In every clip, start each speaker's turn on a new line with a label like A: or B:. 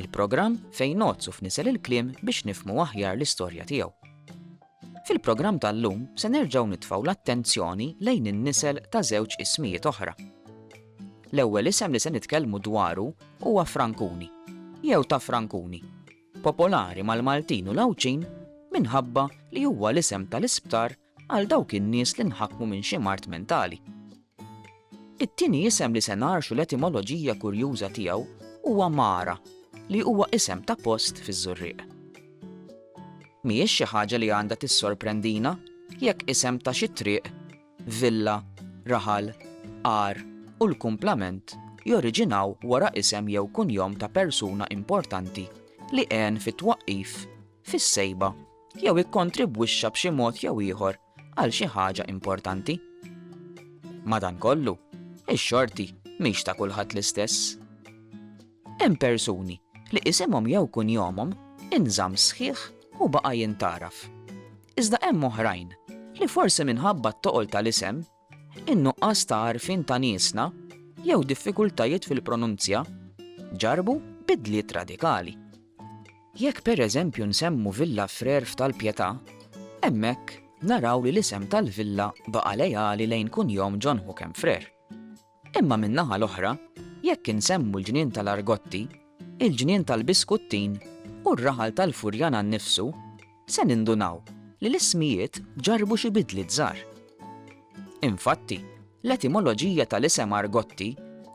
A: Il-programm fejn ngħodd u fnisel il-kliem biex nifhmu aħjar l-istorja tiegħu. Fil-programm tal-lum se nerġgħu nitfgħu l-attenzjoni lejn in-nisel ta' żewġ ismijiet oħra. L-ewwel isem li se nitkellmu dwaru huwa Frankuni jew ta' Frankuni, popolari mal-Maltin u l-Għawdxin minħabba li huwa l-isem tal-isptar għal dawk in-nies li nħakmu minn xi mard mentali. It-tieni isem li se ngħarxu l-etimoloġija kurjuża tiegħu huwa Mara, li huwa isem ta' post fiż-Żurrieq. Mhijiex xi ħaġa li għandha tissorprendina jekk isem ta' xi triq, villa, raħal, għar u l-kumplament joriġinaw wara isem jew kunjom ta' persuna importanti li għen fit-twaqqif, fis-sejba jew ikkontribwixxa b'xi mod jew ieħor għal xi ħaġa importanti. Madankollu, ix-xorti mhix ta' kulħadd l-istess. Hemm persuni li isimhom jew kunjomhom inżamm sħiħ u baqa' jintgħaraf. Iżda hemm oħrajn li forsi minħabba t-toqol tal-isem in-nuqqas ta' għarfien ta' niesna jew diffikultajiet fil-pronunzja ġarrbu bidliet radikali. Jekk pereżempju nsemmu Villa Frère f'Tal-Pietà, hemmhekk naraw li l-isem tal-villa baqa' leali lejn kunjom John Hookham Frère. Imma min-naħa l-oħra, jekk insemmu l-ġnien tal-Argotti, il-ġnien tal-Biskuttin u r-raħal tal-Furjana nnifsu, se nindunaw li l-ismijiet ġarrbu xi bidliet żgħar. Infatti, l-etimoloġija tal-isem Argotti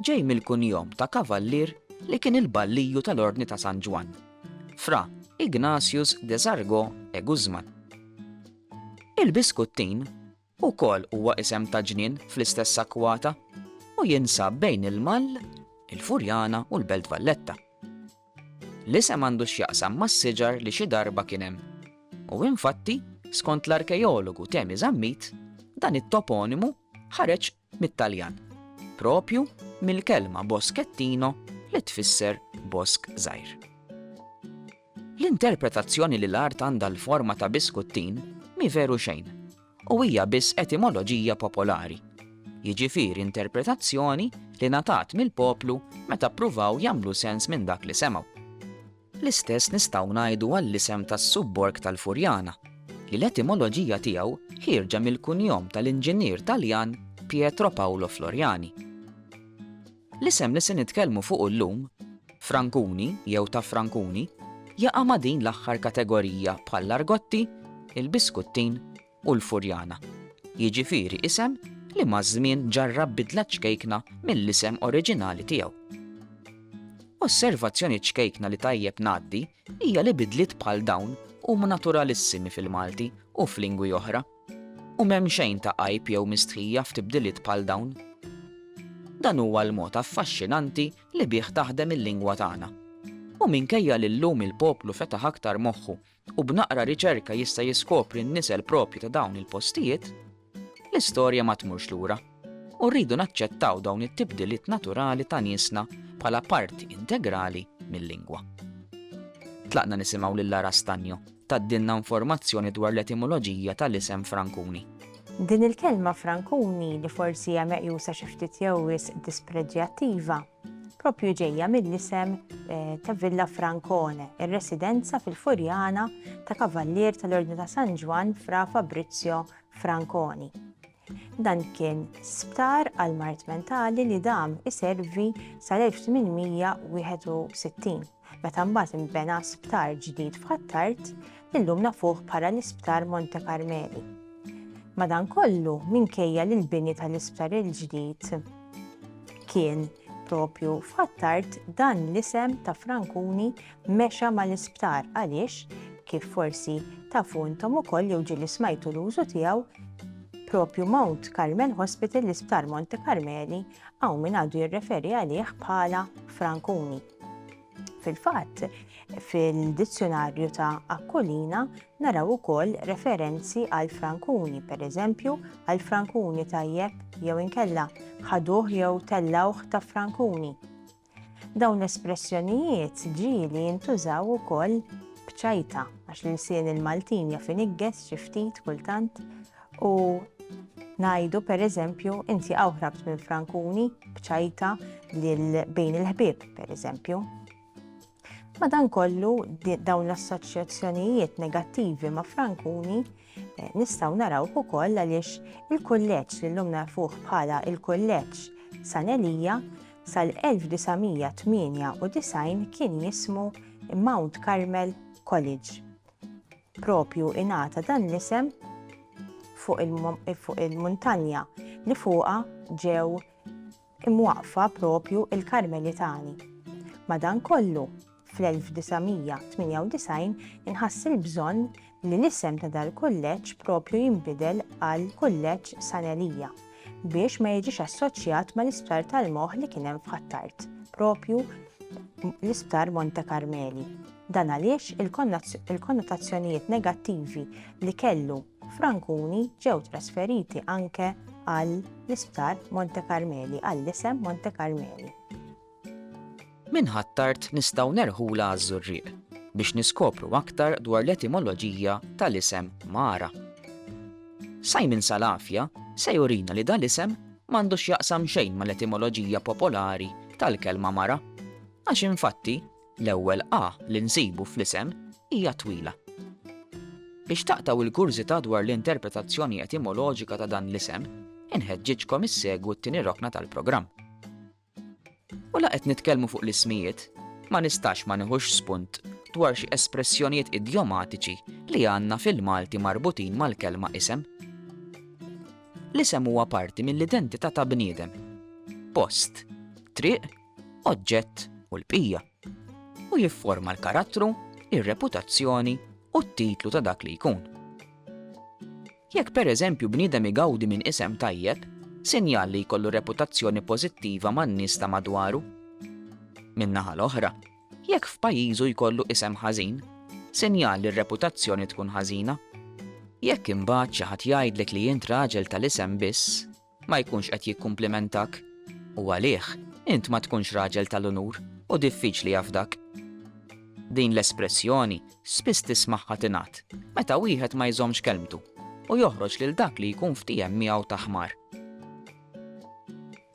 A: ġej mill-kunjom ta' kavallier li kien il-balliju tal-Ordni ta' San Ġwann, Fra Ignatius de Sargó e Guzmán. Il-Biskuttin Ukoll huwa isem ta' ġnien fl-istess akkwata u jinsab bejn il-Mall, il-Furjana u l-Belt Valletta. L-isem għandu x'jaqsam mas-siġar li xi darba kien hemm u infatti, skont l-arkeologu Temi Zammit, dan it-toponimu ħareġ mit-Taljan, proprju mill-kelma boschettino li tfisser bosk żgħir. L-interpretazzjoni li l-art għandha l-forma ta' biskuttin mhi veru xejn u hija biss etimoloġija popolari, jiġifieri interpretazzjoni li ngħatat mill-poplu meta ppruvaw jagħmlu sens minn dak li semgħu. L-istess nistgħu ngħidu għall-isem tas-subborg tal-Furjana, li l-etimoloġija tiegħu ħierġa mill-kunjom tal-inġinier Taljan Pietro Paolo Floriani. L-isem li se nitkellmu fuqu llum, Frankuni jew ta' Frankuni, jaqa' ma' din l-aħħar kategorija bħall-argotti, il-biskuttin u l-Furjana, jiġifieri isem li maż-żmien ġarrab bidla ċkejkna mill-isem oriġinali tiegħu. Osservazzjoni ċkejkna li tajjeb ngħaddi hija li bidliet bħal dawn huma naturalissimi fil-Malti u f'lingwi oħra, u m'hemm xejn ta' għajb jew mistħija f'tibdiliet bħal dawn. Dan huwa l-mod affaxxinanti li bih taħdem il-lingwa tagħna. U minkejja li llum il-poplu fetaħ aktar moħħu u b'naqra riċerka jista' jiskopri n-nisel proprju ta' dawn il-postijiet, l-istorja ma tmurx lura u rridu naċċettaw dawn it-tibdiliet naturali ta' niesna bħala parti integrali mil-lingwa. Tlaqna nisimgħu lil Lara Stagno tgħaddilna informazzjoni dwar l-etimoloġija tal-isem Frankuni. Din il-kelma
B: Frankuni li forsi hija meqjusa xi ftit jew wisq dispreġjattiva, propju ġejja mill-isem ta' Villa Francone, ir-residenza fil-Furjana ta' Kavallier tal-Ordni ta' San Ġwann Fra Fabrizio Franconi. Dan kien sptar għal mart mentali li dam iservi sal-1861. meta mbagħad inbena sptar ġdid f'Ħ'Attard li llum nafuh bħala l-Isptar Monte Karmeli. Madankollu, minkejja li l-bini tal-isptar il-ġdid kien propju f'Ħ'Attard dan l-isem ta' Frankuni mexa mal-isptar għaliex kif forsi tafu intom ukoll jew ġieli smajtu l-użu tiegħu propju Mount Carmel Hospital l-Isptar Monte Carmeli hawn min għadu jirreferi għalih bħala Frankuni. Fil-fatt, fil-dizzjonarju ta' Aquilina naraw ukoll referenzi għal frankuni, pereżempju għal frankuni tajjeb jew inkella ħaduh jew tellawh ta' frankuni. Dawn l-espressjonijiet ġieli jintużaw ukoll bċajta għax l-insien il-Maltin jaf inigges xi ftit kultant U ngħidu pereżempju inti hawn ħrabt minn frankuni bċajta lil bejn il-ħbieb pereżempju. Madankollu dawn l-assoċjazzjonijiet negattivi ma' frankuni eh, nistgħu naraw ukoll għaliex il-kulleġġ li llum nafuh bħala il-kulleġġ San Elija sal-1998 kien jismu Mount Carmel College. Propju ingħata dan l-isem fuq il-muntanja li fuqha ġew imwaqqfa propju il-Karmelitani. Madankollu, fl-1998 inħass il-bżonn li l-isem ta' dal-kulleġġ propju jinbidel għal Kulleġġ San Elija. biex ma jiġix assoċjat mal-isptar tal-moħħ li kien hemm f'Ħ'Attard, proprju l-Isptar Monte Karmeli. Dan għaliex il-konnotazzjonijiet negattivi li kellu f'Rankuni ġew trasferiti anke għall-Isptar Monte Karmeli, għall-isem Monte Karmeli.
A: Minn Ħ'Attard nistgħu nerħulha għaż-Żurrieq biex niskopru aktar dwar l-etimoloġija tal-isem Mara. Simon Salafia se jurina li dal-isem m'għandu x'jaqsam xejn mal-etimoloġija popolari tal-kelma mara, għax infatti l-ewwel a li nsibu fl-isem hija twila. Biex taqtgħu l-kurżità dwar l-interpretazzjoni etimoloġika ta' dan l-isem, inħeġġiġkom issegwu t-tieni rokna tal-programm. U la qed nitkellmu fuq l-ismijiet, ma nistax ma nieħux spunt dwar xi espressjonijiet idjomatiċi li għandna fil-Malti marbutin mal-kelma isem. L-isem huwa parti mill-identità ta' bniedem. Post, triq, oġġett u l-bqija. U jifforma l-karattru, ir-reputazzjoni u t-titlu ta' dak li jkun. Jekk pereżempju bniedem igawdi minn isem tajjeb, sinjal li jkollu reputazzjoni pożittiva man-nies ta' madwaru. Min-naħa l-oħra, jekk f'pajjiżu jkollu isem ħażin, sinjal li r-reputazzjoni tkun ħażina. Jekk imbagħad xi ħadd jgħidlek li int raġel tal-isem biss, ma jkunx qed jikkumplimentak. U għalih, int ma tkunx raġel tal-unur u diffiċli jafdak. Din l-espressjoni spiss tismagħha tingħad meta wieħed ma jżommx kelmtu u joħroġ lil dak li jkun ftiehem miegħu ta' ħmar.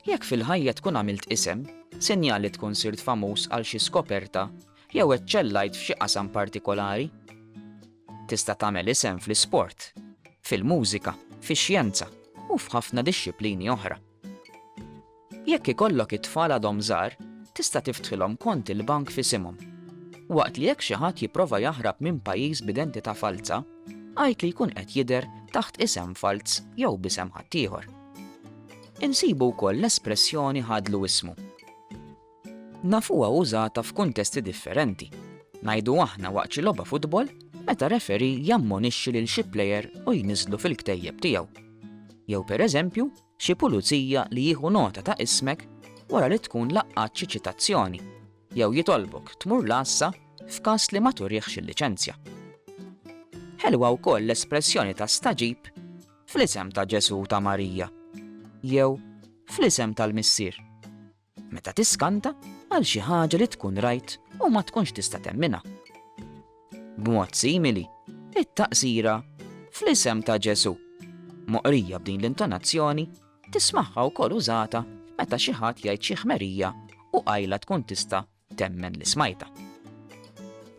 A: Jekk fil-ħajja tkun għamilt isem, sinjal li tkun sirt famuż għal xi skoperta Jew eċċellajt f'xi qasam partikolari? Tista' tagħmel isem fl-isport, fil-mużika, fix-xjenza u f'ħafna dixxiplini oħra. Jekk ikollok it-tfal għadhom żgħar, tista' tiftħilhom kont il-bank f'isimhom. Waqt li jekk xi ħadd jipprova jaħrab minn pajjiż b'identità falza, għid li jkun qed jidher taħt isem falz jew b'isem ħaddieħor. Insibu wkoll l-espressjoni ħadlu ismu. Nafuha użata f'kuntesti differenti. Ngħidu aħna waqt xi logħba futbol meta referee jammonixxi lil xi plejer u jniżżlu fil-ktejjeb tiegħu. Jew pereżempju xi pulizija li jieħu nota ta' ismek wara li tkun laqqgħat xi ċitazzjoni jew jitolbok tmur l-għassa f'każ li ma turihx il-liċenzja. Ħelwa wkoll l-espressjoni ta' stagħġib fl-isem ta' Ġesù u ta' Marija jew fl-isem tal-Missier. Meta tiskanta għal xi ħaġa li tkun rajt u ma tkunx tista' temminha. B'mod simili, it-taqsira fl-isem ta' Ġesù, moqrija b'din l-intonazzjoni, tismagħha wkoll użata meta xi ħadd jgħid xi ħmerija u qajla tkun tista' Temmen li smajtha.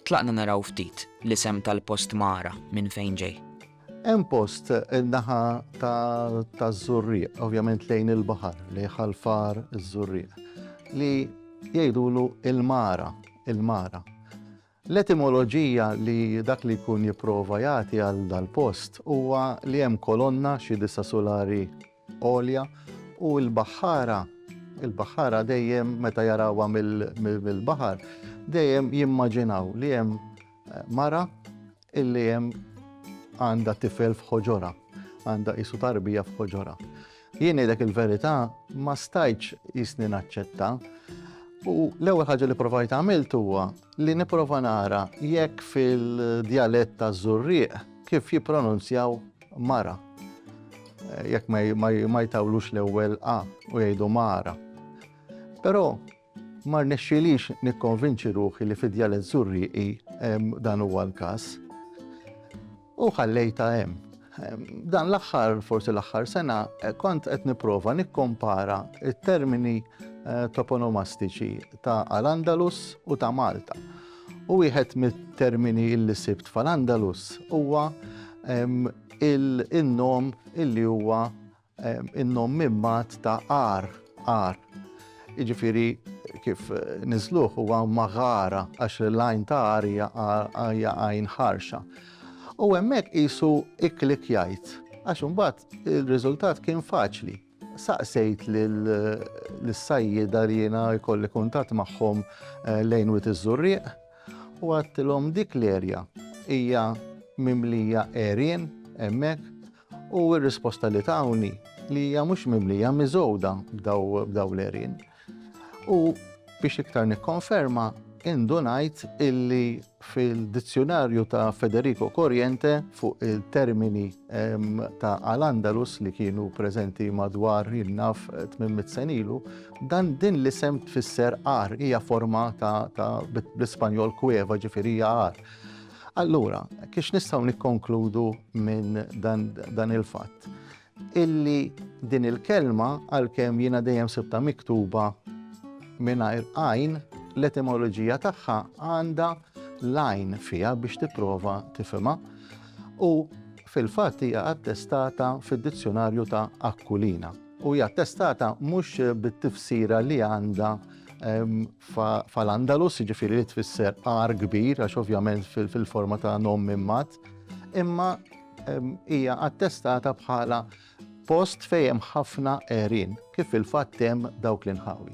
A: Tlaqna naraw ftit l-isem tal-post Magħra minn fejn ġej. Hemm post
C: in-naħa taż-Żurrieq, ovvjament lejn il-baħar, lejn Ħal Far iż-Żurrieq, li jgħidulu l-Magħra, il-Magħra. L-etimoloġija li dak li jkun jipprova jagħti għal dal-post huwa li hemm kolonna xi disa' sulari għolja u l-baħħara, il-baħħara dejjem meta jarawha mill-baħar dejjem jimmaġinaw li hemm mara illi hemm għandha tifel f'ħoġorha, għandha qisu tarbija f'ħoġorha. Jien ngħidlek il-verità, ma stajtx jisni naċċetta. U l-ewwel ħaġa li provajt għamilt huwa li nipprova nara jekk fil-djalett ta' żurrieq kif jippronunzjaw mara. Eh, jekk ma jtawlux l-ewwel A u jgħidu mara. Però Ma rnexxielix nikkonvinċi ruħi li fidja li żżur rieqi dan huwa l-każ. U ħallejta hemm. Dan l-aħħar, forsi l-aħħar sena, kont qed nipprova nikkompara it-termini eh, toponomastiċi ta' Al-Andalus u ta' Malta. U wieħed mit-termini li sibt fal-Andalus huwa il-nom illi huwa In-nom Mimmad ta' għar, għar. Jiġifieri kif niżżluh huwa Magħara għax l-għajn ta' għar hija hija għajn ħarxa. U hemmhekk qisu iklik jgħid għax imbagħad ir-riżultat kien faċli. Saqsejt lis-sajjieda li jiena jkolli kuntatt magħhom lejn Wied iż-Żurrieq u għedtilhom dik l-erja hija mimlija għerien hemmhekk, U r-risposta li tawni li hija mhux mimlija miżgħuda b'daw l-erien. U biex iktar nikkonferma, indunajt illi fil-dizzjonarju ta' Federico Corriente fuq il-termini ta' Al-Andalus li kienu preżenti madwar jinnaf 800 senilu, dan din l-isem tfisser ar, hija forma ta' bl-Ispanjol kueva ġifieri hija ar. Allura, kiex nistgħu nikkonkludu minn dan il-fatt? Illi din il-kelma għalkemm jiena dejjem sibta miktuba mingħajr għajn, l-etimoloġija tagħha għandha lajn fija biex tipprova tifhimha u fil-fatt hija attestata fid-dizzjonarju ta' Akkulina u hija attestata mhux bit-tifsira li għandha ehm, f'al-Andalus, jiġifieri li tfisser għar kbir, għax ovvjament fil-forma ta' nom minn mat, imma hija attestata bħala post fejn hemm ħafna għerien, kif fil-fatt hemm dawk l-inħawi.